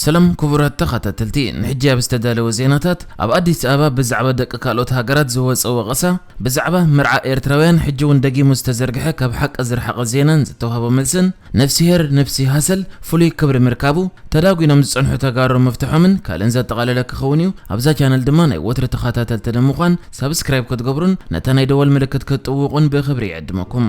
ሰላም ክቡራት ተኻታተልቲ ንሕጂ ኣብ ዝተዳለወ ዜናታት ኣብ ኣዲስ ኣበባ ብዛዕባ ደቂ ካልኦት ሃገራት ዝወጸ ወቐሳ ብዛዕባ መርዓ ኤርትራውያን ሕጂ ውን ደጊሙ ዝተዘርግሐ ካብ ሓቂ ዝርሓቐ ዜናን ዝተዋህቦ መልስን ነፍሲሄር ንብሲ ሃሰል ፍሉይ ክብሪ ምርካቡ ተዳጒኖም ዝጸንሑ ተጋሩ ምፍትሖምን ካልእን ዘጠቓለለ ክኸውን እዩ ኣብዛ ቻነል ድማ ናይ ወትሪ ተኻታተልቲ ንምዃን ሳብስክራይብ ክትገብሩን ነታ ናይ ደወል ምልክት ክትጥውቑን ብኽብሪ ይዕድመኩም።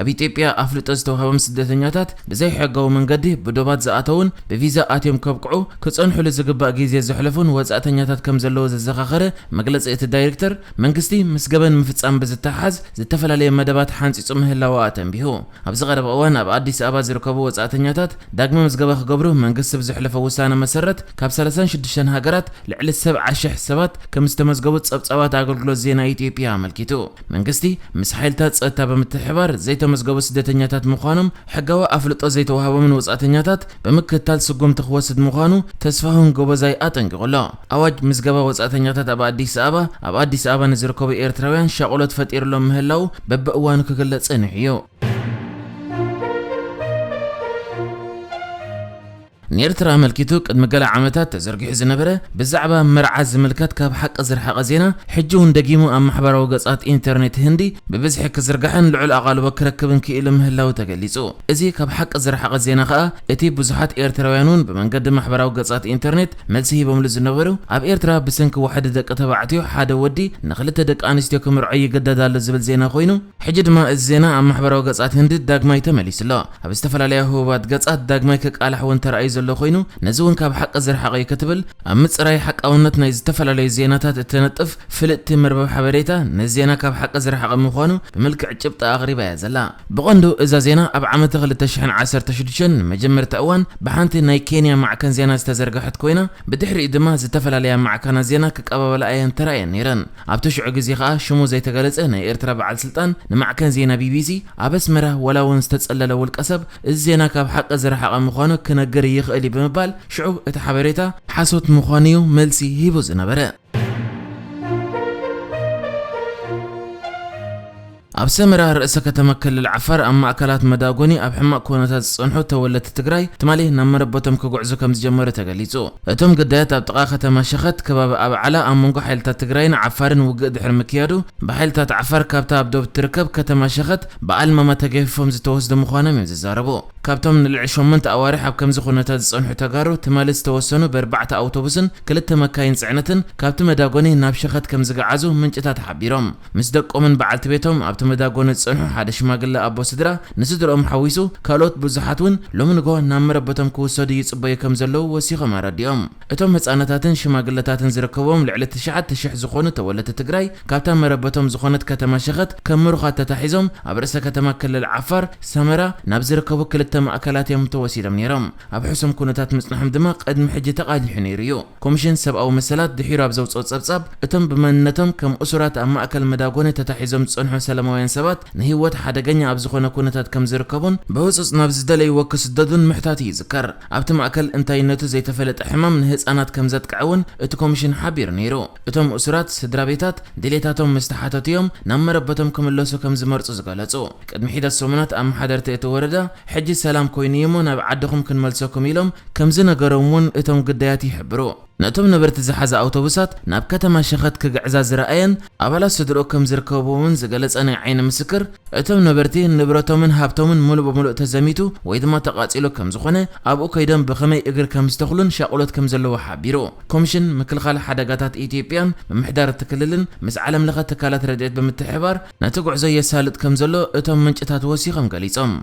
ኣብ ኢትዮጵያ ኣፍልጦ ዝተውሃቦም ስደተኛታት ብዘይሕጋዊ መንገዲ ብዶባት ዝኣተዉን ብቪዛ ኣትዮም ከብቅዑ ክፀንሑሉ ዝግባእ ጊዜ ዘሕለፉን ወፃእተኛታት ከምዘለዉ ዘዘኻኸረ መግለፂ እቲ ዳይሪክተር መንግስቲ ምስ ገበን ምፍፃም ብዝተሓሓዝ ዝተፈላለየ መደባት ሓንፂፁ ምህላዉ ኣተንቢሁ። ኣብዚ ቀረባ እዋን ኣብ ኣዲስ ኣበባ ዝርከቡ ወፃእተኛታት ዳግመ ምዝገባ ክገብሩ መንግስቲ ብዘሕለፎ ውሳነ መሰረት ካብ ሰላሳን ሽዱሽተን ሃገራት ልዕሊ ሰብዓ ሽሕ ሰባት ከምዝተመዝገቡ ፀብፃባት ኣገልግሎት ዜና ኢትዮጵያ ኣመልኪቱ። መንግስቲ ምስ ሓይልታት ጸጥታ ብምትሕብባር ዘይተመዝገቡ ስደተኛታት ምዃኖም ሕጋዊ ኣፍልጦ ዘይተዋህቦምን ወጻእተኛታት ብምክትታል ስጉምቲ ክወስድ ምዃኑ ተስፋሁን ጎበዛይ ኣጠንቂቑ ኣሎ። ኣዋጅ ምዝገባ ወጻእተኛታት ኣብ ኣዲስ ኣበባ ኣብ ኣዲስ ኣበባ ንዝርከቡ ኤርትራውያን ሻቕሎት ፈጢርሎም ምህላዉ በብእዋኑ ክግለጽ ጸኒሑ'ዩ። ንኤርትራ ኣመልኪቱ ቅድሚ ገለ ዓመታት ተዘርጊሑ ዝነበረ ብዛዕባ መርዓ ዝምልከት ካብ ሓቂ ዝርሓቐ ዜና፣ ሕጂ እውን ደጊሙ ኣብ ማሕበራዊ ገጻት ኢንተርኔት ህንዲ ብብዝሒ ክዝርጋሕን ልዑል ኣቓልቦ ክረክብን ክኢሉ ምህላዉ ተገሊጹ። እዚ ካብ ሓቂ ዝረሓቐ ዜና ከኣ እቲ ብዙሓት ኤርትራውያን እውን ብመንገዲ ማሕበራዊ ገጻት ኢንተርኔት መልሲ ሂቦምሉ ዝነበሩ ኣብ ኤርትራ ብሰንኪ ዋሕዲ ደቂ ተባዕትዮ ሓደ ወዲ ንኽልተ ደቂ ኣንስትዮ ክምርዖ ይግደድ ኣሎ ዝብል ዜና ኮይኑ ሕጂ ድማ እዚ ዜና ኣብ ማሕበራዊ ገጻት ህንዲ ዳግማይ ተመሊሱ ኣሎ። ኣብ ዝተፈላለያ ህቡባት ገጻት ዳግማይ ክቃላሕ እውን ተራእዩ ዘሎ ኮይኑ፣ ነዚ እውን ካብ ሓቂ ዝረሓቐ እዩ ክትብል ኣብ ምጽራይ ሓቃውነት ናይ ዝተፈላለዩ ዜናታት እትነጥፍ ፍልጥቲ መርበብ ሓበሬታ ነዚ ዜና ካብ ሓቂ ዝረሓቐ ምዃኑ ብምልክዕ ጭብጢ ኣቕሪባ እያ ዘላ። ብቐንዱ እዛ ዜና ኣብ ዓመተ ክልተ ሽሕን ዓሰርተ ሽዱሽተን ንመጀመርታ እዋን ብሓንቲ ናይ ኬንያ ማዕከን ዜና ዝተዘርገሐት ኮይና ብድሕሪኡ ድማ ዝተፈላለያ ማዕከናት ዜና ክቀባበላ እየን ተራእየን ነይረን። ኣብቲ ሽዑ ግዜ ከኣ ሽሙ ዘይተገለጸ ናይ ኤርትራ በዓል ስልጣን ንማዕከን ዜና ቢቢሲ ኣብ ኣስመራ ዋላ እውን ዝተጸለለ ውልቀሰብ እዚ ዜና ካብ ሓቂ ዝረሓቐ ምዃኑ ክነግር ይኽእል እዩ ብምባል ሽዑ እቲ ሓበሬታ ሓሶት ምዃኑ እዩ መልሲ ሂቡ ዝነበረ። ኣብ ሰመራ ርእሰ ከተማ ክልል ዓፋር ኣብ ማእከላት መዳጎኒ ኣብ ሕማቕ ኩነታት ዝጸንሑ ተወለድቲ ትግራይ ትማሊ ናብ መረበቶም ክጉዕዙ ከምዝጀመሩ ተገሊጹ። እቶም ግዳያት ኣብ ጥቓ ከተማ ሸኸት ከባቢ ኣብዓላ ኣብ መንጎ ሓይልታት ትግራይን ዓፋርን ውግእ ድሕሪ ምክያዱ ብሓይልታት ዓፋር ካብታ ኣብ ዶብ እትርከብ ከተማ ሸኸት ብኣልመማ ተገፊፎም ዝተወስዱ ምዃኖም እዮም ዝዛረቡ። ካብቶም ንልዕሊ ሸሞንተ ኣዋርሕ ኣብ ከምዚ ኩነታት ዝጸንሑ ተጋሩ ትማሊ ዝተወሰኑ በርባዕተ ኣውቶቡስን ክልተ መካይን ጽዕነትን ካብቲ መዳጎኒ ናብ ሸኸት ከምዝገዓዙ ምንጭታት ሓቢሮም። ምስ ደቆምን በዓልቲ ቤቶም ኣብቲ መዳጎኒ ዝጸንሑ ሓደ ሽማግለ ኣቦ ስድራ ንስድርኦም ሓዊሱ ካልኦት ብዙሓት እውን ሎሚ ንግሆ ናብ መረበቶም ክውሰዱ ይጽበዩ ከም ዘለዉ ወሲኾም ኣረዲኦም። እቶም ህጻናታትን ሽማግለታትን ዝርከብዎም ልዕሊ ትሽዓተ ሽሕ ዝኾኑ ተወለድቲ ትግራይ ካብታ መረበቶም ዝኾነት ከተማ ሸኸት ከም ምሩኻት ተታሒዞም ኣብ ርእሰ ከተማ ክልል ዓፋር ሰመራ ናብ ዝርከቡ ክልተ ማእከላት እዮም ተወሲዶም ነይሮም። ኣብ ሕሱም ኩነታት ምጽንሖም ድማ ቅድሚ ሕጂ ተቓሊሑ ነይሩ እዩ። ኮምሽን ሰብኣዊ መሰላት ድሒሩ ኣብ ዘውጽኦ ጸብጻብ፣ እቶም ብመንነቶም ከም እሱራት ኣብ ማእከል መዳጎኒ ተታሒዞም ዝጸንሑ ሰለማውያን ሰባት ንህይወት ሓደገኛ ኣብ ዝኾነ ኩነታት ከም ዝርከቡን፣ ብህጹጽ ናብ ዝደለይዎ ክስደዱን ምሕታቱ ይዝከር። ኣብቲ ማእከል እንታይነቱ ዘይተፈለጠ ሕማም ንህጻናት ከም ዘጥቅዐ እውን እቲ ኮምሽን ሓቢሩ ነይሩ። እቶም እሱራት ስድራቤታት ድሌታቶም ምስ ተሓተቱ እዮም ናብ መረበቶም ክምለሱ ከም ዝመርጹ ዝገለጹ። ቅድሚ ሒደት ሰሙናት ኣመሓደርቲ እቲ ወረዳ፣ ሕጂ ሰላም ኮይኑ'ዩ'ሞ ናብ ዓድኹም ክንመልሰኩም ኢሎም ከምዝነገሮም'ውን እቶም ግዳያት ይሕብሩ። ነቶም ነበርቲ ዝሓዛ ኣውቶቡሳት ናብ ከተማ ሸኸት ክግዕዛ ዝረኣየን ኣባላት ስድርኡ ከምዝርከብዎምን ዝገለጸ ናይ ዓይኒ ምስክር፣ እቶም ነበርቲ ንብረቶምን ሃብቶምን ምሉእ ብምሉእ ተዘሚቱ ወይ ድማ ተቓጺሉ ከምዝኾነ፣ ኣብኡ ከይዶም ብኸመይ እግሪ ከምዝተኽሉን ሻቕሎት ከምዘለዎ ሓቢሩ። ኮምሽን ምክልኻል ሓደጋታት ኢትዮጵያን ምምሕዳር እቲ ክልልን ምስ ዓለምለኸ ትካላት ረድኤት ብምትሕብባር፣ ነቲ ጉዕዞ የሳልጥ ከም ዘሎ እቶም ምንጭታት ወሲኾም ገሊጾም።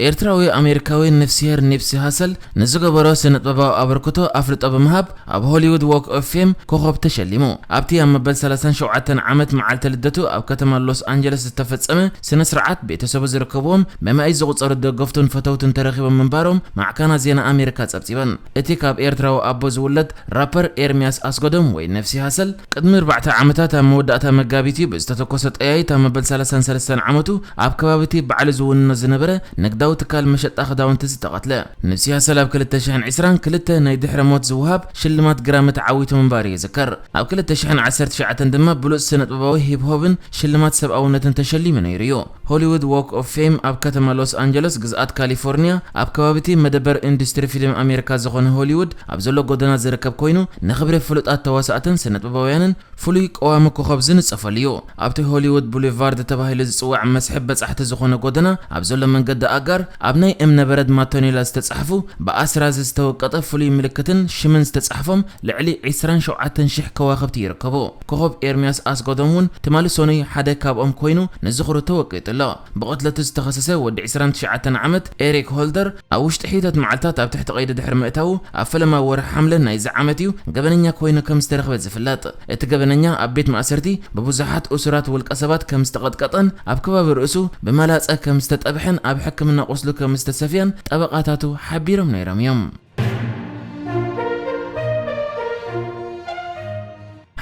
ኤርትራዊ ኣሜሪካዊ ንፍስሄር ኒፕሲ ሃሰል ንዝገበሮ ስነጥበባዊ ኣበርክቶ ኣፍልጦ ብምሃብ ኣብ ሆሊውድ ዎክ ኦፍ ፌም ኮኾብ ተሸሊሙ። ኣብቲ ኣብ መበል ሰላሳን ሸውዓተን ዓመት መዓልቲ ልደቱ ኣብ ከተማ ሎስ ኣንጀለስ ዝተፈጸመ ስነስርዓት ቤተሰቡ ዝርከብዎም በመኣይት ዝቑጸሩ ደገፍቱን ፈተውቱን ተረኺቦም ምንባሮም ማዕከናት ዜና ኣሜሪካ ጸብጺበን። እቲ ካብ ኤርትራዊ ኣቦ ዝውለድ ራፐር ኤርሚያስ ኣስገዶም ወይ ነፍሲ ሃሰል ቅድሚ ኣርባዕተ ዓመታት ኣብ መወዳእታ መጋቢት እዩ ብዝተተኮሰ ጠያይት ኣብ መበል ሰላሳን ሰለስተን ዓመቱ ኣብ ከባቢቲ ባዕሉ ዝውንኖ ዝነበረ ንግዳዊ ትካል መሸጣ ክዳውንቲ ዝተቐትለ። ንብሲ ሃሰል ኣብ ክልተ ሽሕን ዕስራን ክልተ ናይ ድሕረ ሞት ዝወሃብ ሽልማት ግራሚ ተዓዊቱ ምንባሩ ይዝከር። ኣብ ክልተ ሽሕን ዓሰርተ ትሽዓተን ድማ ብሉጽ ስነጥበባዊ ሂፕ ሆፕን ሽልማት ሰብኣውነትን ተሸሊሙ ነይሩ እዩ። ሆሊዉድ ዎክ ኦፍ ፌም ኣብ ከተማ ሎስ ኣንጀለስ፣ ግዝኣት ካሊፎርንያ፣ ኣብ ከባቢ'ቲ መደበር ኢንዱስትሪ ፊልም ኣሜሪካ ዝዀነ ሆሊዉድ ኣብ ዘሎ ጐደና ዝርከብ ኰይኑ፣ ንኽብሪ ፍሉጣት ተዋሳእትን ስነጥበባውያንን ፍሉይ ቀዋሚ ኮኾብ ዝንጸፈሉ'ዩ። ኣብቲ ሆሊዉድ ቡሊቫርድ ተባሂሉ ዝጽዋዕ መስሕብ በጻሕቲ ዝዀነ ጐደና ኣብ ዘሎ መንገዲ ኣጋር፣ ኣብ ናይ እምነ በረድ ማቶኔላ ዝተጻሕፉ ብኣስራዚ ዝተወቀጠ ፍሉይ ምልክትን ሽምን ዝተጻሕፎም ልዕሊ ዕስራን ሸውዓተን ሽሕ ከዋኽብቲ ይርከቡ። ኮኾብ ኤርምያስ ኣስገዶም እውን ትማሊ ሰኑይ ሓደ ካብኦም ኮይኑ ንዝኽሩ ተወቂጡ ኣሎ። ብቕትለቱ ዝተኸሰሰ ወዲ ዕስራን ትሽዓተን ዓመት ኤሪክ ሆልደር ኣብ ውሽጢ ሕይተት መዓልታት ኣብ ትሕቲ ቀይዲ ድሕሪ ምእታዉ ኣብ ፈለማ ወርሒ ሓምለ ናይዚ ዓመት እዩ ገበነኛ ኮይኑ ከም ዝተረኽበ ዝፍለጥ። እቲ ገበነኛ ኣብ ቤት ማእሰርቲ ብብዙሓት እሱራት ውልቀሰባት ከም ዝተቐጥቀጠን ኣብ ከባቢ ርእሱ ብመላጸ ከም ዝተጠብሐን ኣብ ሕክምና ቁስሉ ከም ዝተሰፍየን ጠበቓታቱ ሓቢሮም ነይሮም እዮም።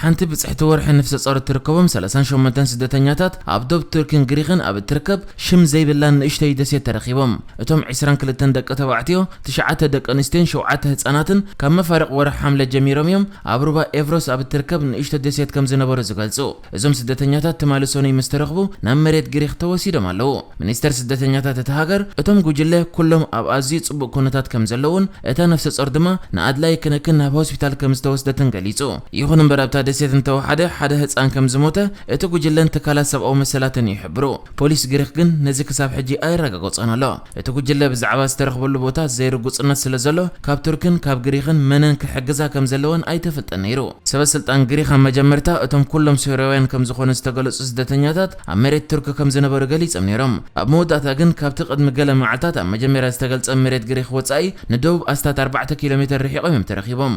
ሓንቲ ብጽሕቲ ወርሒ ነፍሰ ጾር እትርከቦም ሰላሳን ሸሞንተን ስደተኛታት ኣብ ዶብ ቱርኪን ግሪኽን ኣብ እትርከብ ሽም ዘይብላን ንእሽቶይ ደሴት ተረኺቦም። እቶም ዕስራን ክልተን ደቂ ተባዕትዮ፣ ትሽዓተ ደቂ ኣንስትዮን ሸውዓተ ህጻናትን ካብ መፋርቕ ወርሒ ሓምለ ጀሚሮም እዮም ኣብ ሩባ ኤቭሮስ ኣብ እትርከብ ንእሽቶ ደሴት ከም ዝነበሩ ዝገልጹ። እዞም ስደተኛታት ትማሊ ሰኑይ ምስ ተረኽቡ ናብ መሬት ግሪኽ ተወሲዶም ኣለዉ። ሚኒስተር ስደተኛታት እታ ሃገር፣ እቶም ጕጅለ ኵሎም ኣብ ኣዝዩ ጽቡቕ ኵነታት ከም ዘለዉን እታ ነፍሰጾር ድማ ንኣድላዪ ክንክን ናብ ሆስፒታል ከም ዝተወስደትን ገሊጹ። ይዅን እምበር ኣብታ ደሴት እንተወሓደ ሓደ ህጻን ከም ዝሞተ እቲ ጕጅለን ትካላት ሰብኣዊ መሰላትን ይሕብሩ። ፖሊስ ግሪኽ ግን ነዚ ክሳብ ሕጂ ኣየረጋገጾን ኣሎ። እቲ ጉጅለ ብዛዕባ ዝተረኽበሉ ቦታ ዘይርጉጽነት ስለዘሎ፣ ካብ ቱርክን ካብ ግሪኽን መነን ክሕግዛ ከምዘለወን ኣይተፈልጠን ነይሩ። ሰበስልጣን ግሪኽ ኣብ መጀመርታ እቶም ኩሎም ሶርያውያን ከምዝኾኑ ዝተገለጹ ስደተኛታት ኣብ መሬት ቱርኪ ከምዝነበሩ ገሊጾም ነይሮም። ኣብ መወዳእታ ግን ካብቲ ቅድሚ ገለ መዓልታት ኣብ መጀመርያ ዝተገልጸ መሬት ግሪኽ ወጻኢ ንደቡብ ኣስታት ኣርባዕተ ኪሎ ሜተር ርሒቖም እዮም ተረኺቦም።